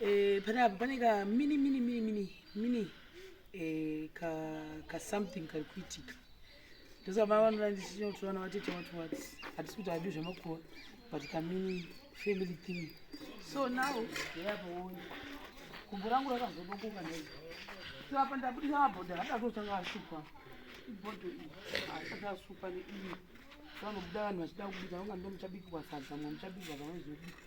eh, pane apa pane ka mini mini mini mini mini eh, ka ka something kari kuitika ndosaka vana vanoda ndichinoto vana vatete wati wati hatisi kuti adi zvemakuwa but ka mini family thing so now yayapoona gumbo rangu rakazodokoka nei so apa ndabudisa mabhodha hatatotanga ashukwa ibhodho iyi haasati asukwa neiyi vanobuda vanhu vachida kubika vangu ndomuchabikwa sadza mwa muchabikwa zvamaizobuka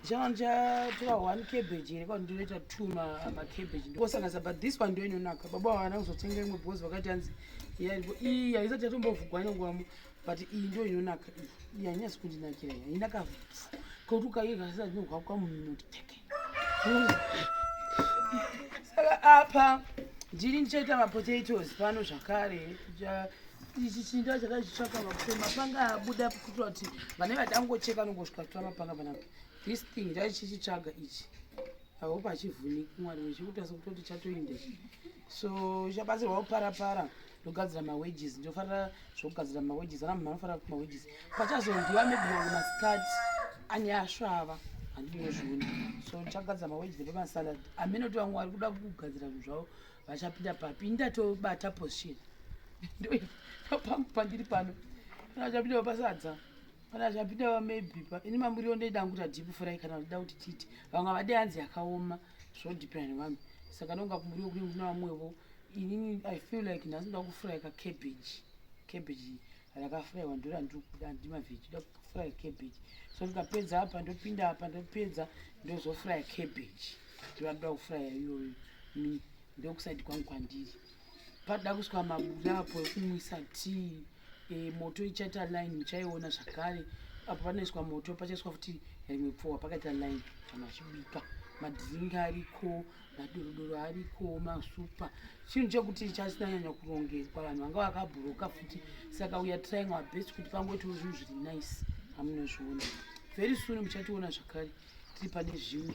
ndichava ndichatora one cabbage here kwa ndinoita two macabbage ndikosanganisa but this one ndo inonaka baba havana kuzotenga imwe because vakati hanzi iyi haisati yatombovhugwa nyangwamo but iyi ndo inonaka iyi hanyasi kundinakira iya inakavhisa kokuti ukaigasa ndinohwa kwamunoti teke saka apa ndini ndichaita mapotatoes pano zvakare ja, ichi chinda chakazvitsvaka vakuti mapanga abuda kuitira kuti vane vadangocheka nongosvika kutora mapanga panapa this thing ndaichichitsvaga ichi ahope achivhuniki mwari vechikutasa kutoti chatoinde so chabatsirwa kuparapara ndogadzira mawages ndofarira zvokugadzira mawages ana munhu anofarira kuti mawages pachazondiwa maybe mamwe masikati ane asvava handinozviona so ndichagadzira mawages epamasalad amene kuti vamwe vari kuda kugadzira zvinhu zvavo vachapinda papi ini ndatobata position ndopangu pandiri pano kana vachapinda vapasadza kana vachapinda vamaybe pa ini mamuriwo ndoida angu kuti deep fry kana vachida kuti titi vamwe vade hanzi yakaoma zvodepend vanhu saka ndonga kumuriwo kune kuna vamwevo inini i feel like nhasi ndoda kufurayika cabbage cabbage rakafuraiwa ndo randiri kuda handi mavheji ida kufuraya cabbage so ndikapedza apa ndopinda apa ndopedza ndozofuraya cabbage ndivandoda kufuraya iyoyo mi ndokusaidi kwangu kwandiri padoda kusvika mabuda apo ekumwisa tii e, moto ichaita line muchaiona zvakare apo panoiswa moto pachaiswa futi rimwe pfuwa pakaita line vanhu vachibika madhiringi ariko maduruduru ariko masupa chinhu chekuti chasina nyanya kurongekwa vanhu vanga vakabhuroka futi saka uya trying our best kuti pangoitawo zvinhu zviri nice amunozviona very soon muchationa zvakare tiri pane zvimwe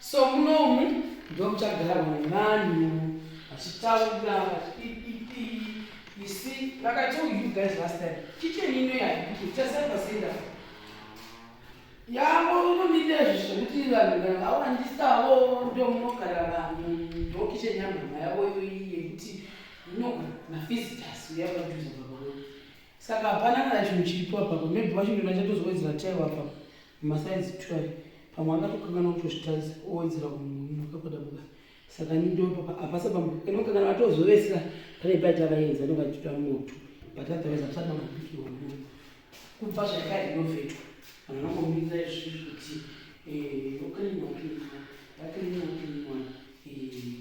so munomu ndomuchagarwa nevanhu vachitaura vachipipipi isi vakatold you guys last time kicheni ino yaikuti chasaivasinda yavo unomida izvi zvekuti vanhu kana vawandisawo ndomunogara vanhu ndokicheni yamhama yavo iyoyi yekuti inogara mavisitors uya vaduza vavavo saka hapana kana chinhu chiripo apapo maybe vachinoda chatozowedzera taiwa apapo masaizi twai pamwe akatokanganwa kutozvitarisa owedzera kumuka kwadabuka saka ndopa apasa pamukana vatozovesera pane paita vaenza ndovachita moto but otherwise atisati vambopiki wamuna kubva zvakare inovetwa vanhu vangomirira izvi kuti oklinwa eh, klinwa vaklinwa klinwa eh,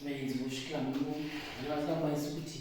vaenzi vosvika muno vana vasingakwanisi kuti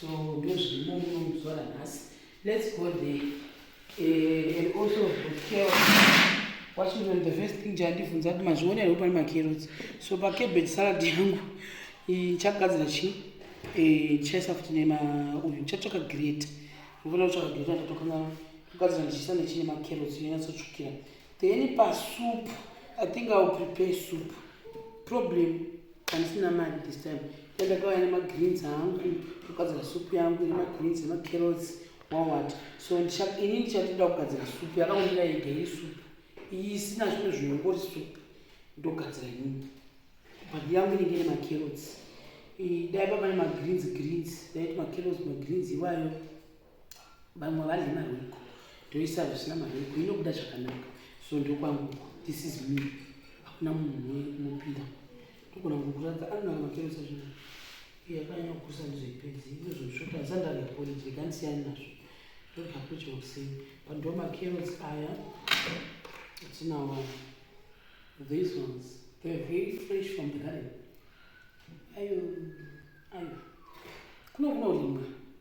so ndozvirimo muno muzuva ranhasi let's go there uh, and also hotel washington the first thing chandibvunza kuti mazviona here kuti pane macarrots so pacabbage salad yangu ndichagadzira chii eh, ndichaisa futi nema uyu ndichatsvaka great ndofana kutsvaka great andatokanga kugadzira ndichiisa nechine macarrots yonyatsotsvukira Then pa soup, I think I will prepare soup. Problem, handisina mari this time. Ndakauya nema greens angu, ndogadzira soup yangu ine ma greens nema carrots, wawat. So ini ndichatoda kugadzira soup, yakangomira yega iyi soup. Iyi isina zvimwe zvinhu ngori soup. Ndogadzira ini. Bhandi yangu inenge ine ma carrots. Dai papa ne ma greens greens, dai ma carrots ma greens iwayo. vamwe vadle marwiko ndoisa zvisina marwiko inobuda zvakanaka so ndokwangu this is me hakuna munhu unopinda ndogona kukuratidza anonaka makerosa zvino iye akanyanya kukusa ndizoipedzi inozosvota asandave college ndikandisiyani nazvo ndodya kucha kuseni but ndo makerosi aya atinawo these ones they are very fresh from the garden ayo ayo kuno kunorimwa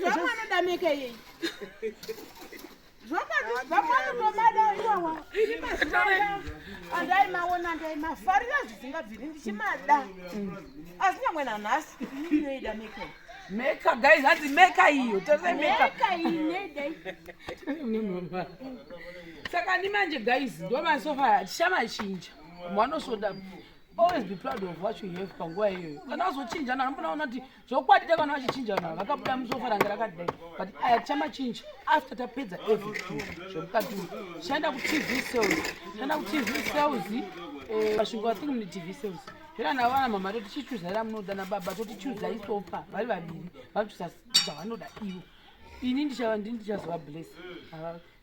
zvamwanodameka yei andaimaona ndaimafarira zvisingabviri ndichimada asi nyangwe nanhasi inoida meka meka guys hanzi meka iyo tose meka saka ni manje guys ndomasofa tichamachinja mwanosvoda always be proud of what you have panguva iyoyo kana wazochinja nanombona ona kuti zvokwadi tavana vachichinja vanhu vakabuda musofa range rakadai but aya tichamachinja after tapedza everything zvemukati tichaenda kutv sales tichaenda kutv sales eh, vasvingo i think mune tv sales zvera navo vana mama totichichuza ra munoda nababa totichuza isofa vari vaviri vanochuza zvavanoda ivo ini ndichava ndini ndichazova bless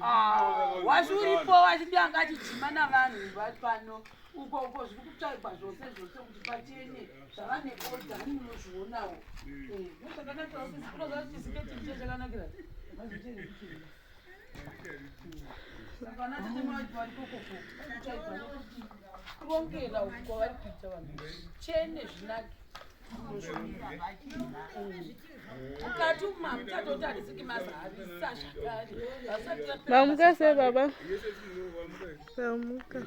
Ah, wasi uripo wachidi anga achidzima navanhu vapano uko uko zviri kutsvaigwa zvose zvose kuti pachene zvavane oda ani munozvionawo ndochakanakiraoisiketiicha eh, chakanakira kurongera uko vari kuita vanhu chene zvinake Vamuka se baba. Vamuka.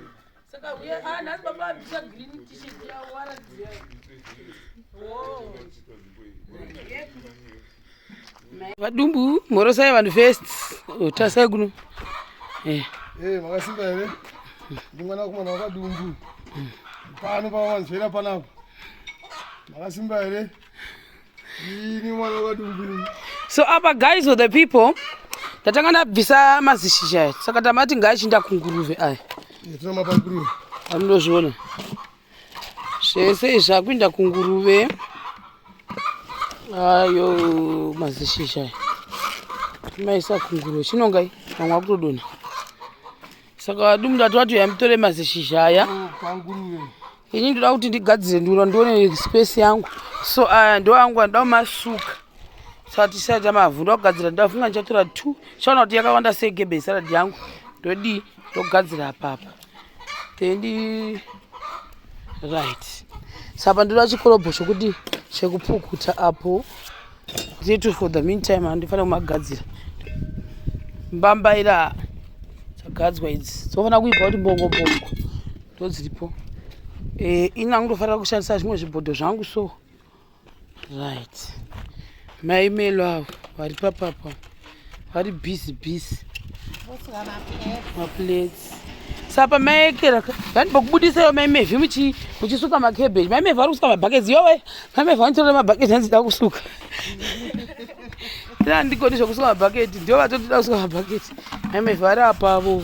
Saka uye ah nhasi baba vabvisa green t-shirt yavo waratidza. Oh. Vadumbu mhorosai vanhu first. Tasai kuno. Eh. Eh makasimba here? Ndi mwana wakomana wakadumbu. Pano pawanzwira panapa. Makasimba here? so apa guys or the people tatanga ndabvisa mazishizha aya saka tamati ngaachinda kunguruve aya anodozviona zvese izvi akuinda kunguruve ayo mazishizha aya maisa kunguruve chinongai vamwe akutodonha saka vadumbu ndati vatoya mutore mazishizha aya ini ndoda kuti ndigadzire ndura ndione space yangu so aya ndo angu andoda kumasuka saka tisaita mavhu ndoda kugadzira ndoda funga ndichatora two chaona kuti yakawanda segebe isaradi yangu ndodii ndogadzira apapa tendi right sapa ndoda chikorobho chokuti chekupukuta apo Zvitu for the meantime handifanira kumagadzira. Mbambaira dzagadzwa idzi dzofanira kuibva kuti mbongo mbongo ndodziripo. Eh, ini angutofanira kushandisa zvimwe zvibhodho zvangu so. Right. Mai Melo avo vari papapa. vari busy busy maplates sapa maekera vani pakubudisa yo maimevhi muchisuka macabbage maimevhi vari kusuka mabhaketi yowe maimevhi vanitorera mabhaketi hanzi da kusuka ina ndigoni zvekusuka mabhaketi ndio vatotida kusuka mabhaketi maimevhi vari apavo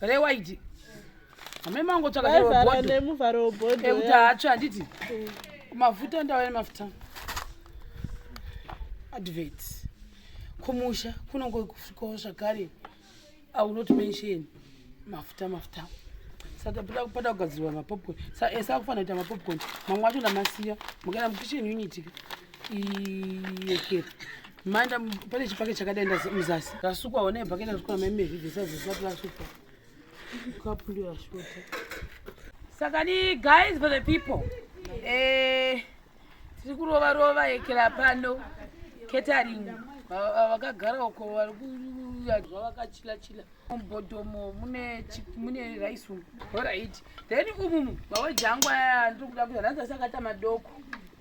rewaiti amai mangu tsvakaemuvharo webhodhi ekuti haatsva handiti mm. mafuta ndava nemafuta advert kumusha kunongo kusvikawo zvakare aunot mention mafuta mafuta saka pada kugadzirwa mapopcorn esa eh, kufanira kuita mapopcorn mamwe acho ndamasiya mukaenda mukitchen unit iyekera Manda pane chipake chakadai muzasi. Rasukwa one ibhaketi rasukwa meme vhivhisa zisati rasukwa. Kapu ndio rasukwa. Saka ni guys for the people. Eh tiri kurova rova ekela pano catering vakagara uko vari kuuya zvavakachila chila mubhodhomo mune mune rice umu. Alright. Then umumu maweji angu aya ndiri kuda kuya nhanzi asakata madoko.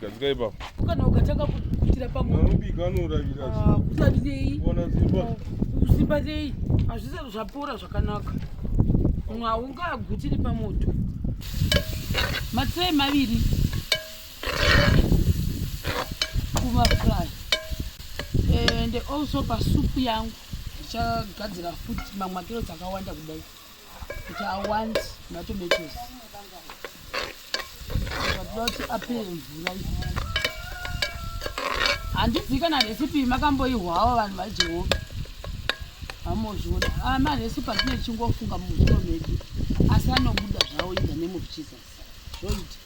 Gadzika ipapo. Kana ukatanga kutira pamwe. Unobika anoravira. Ah, Kusarirei. Kuona simba. Simba rei. Hazvisati zvapora zvakanaka. Munhu haungagutiri pamoto. Matirai maviri. Kuva fry. And also pasupu yangu ndichagadzira futi mamwe makiro dzakawanda kudai. kuti i want matomatoes vatida kuti apere mvura handizivi kana recipe makamboihwawo vanhu vajehovha hamozviona ah, marecipe atine tichingofunga muzvino medu asi anobuda zvawo in the name of jesus zvoita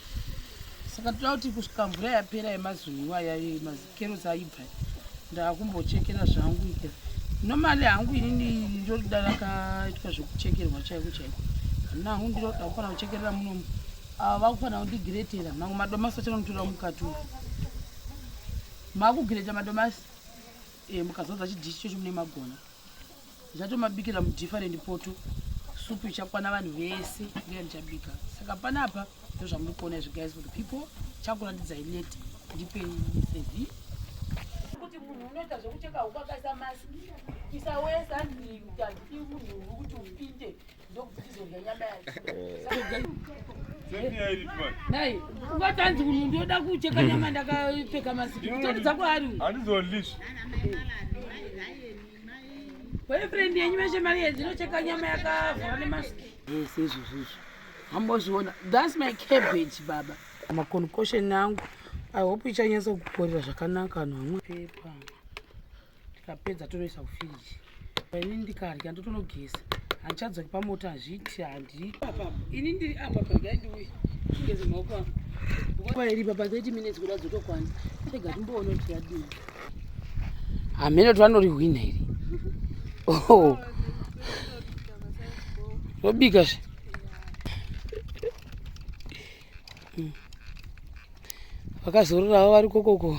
saka toda kuti kusvika mvura yapera yemazuva iwaya yemazi kero dzaibva ndakumbochekera zvangu ika nomali hangu inini ndoda rakaitwa zvekuchekerwa chaiko chaiko handina hangu ndiro ndakufana kuchekerera munomu ava vakufana kundigiretera mamwe madomasi vachanotora mukatura makugireta madomasi eh, mukazodza chidishi chocho mune magona Ndatomabikira mu different poto. Supu ichakwana vanhu vese ndiye ndichabika. Saka panapa ndozvamuri kuona izvi guys for the people chakuratidzai late ndipei sevi kuti munhu unoita zvekucheka huku akaisa masi isawesa ndiuti munhu uri kuti upinde Nai, ungatanzi munhu ndoda kucheka nyama ndakapfeka masiki. Kutori dzako ari. Andizolish. Boyfriend yenyu meshe mari yenyu inocheka nyama yakavhara nemasiki. Yes, izvo zvizvo. Hambozviona. That's my cabbage baba. Ma concussion angu. I hope ichanyatsa kukorera zvakanaka anhu amwe. Pepa. tikapedza tonoisa kufiriji ini ndikadya ndotonogeza handichadzoki pamota hazviiti handi ini ndiri apa pagai ndiuye tingeze maoko ako nguva iri papa 30 minutes kuda dzotokwana rega timboona kuti yadii hameno tvanorihwina iri oh. zvobika zve hmm. vakazororawo vari kokoko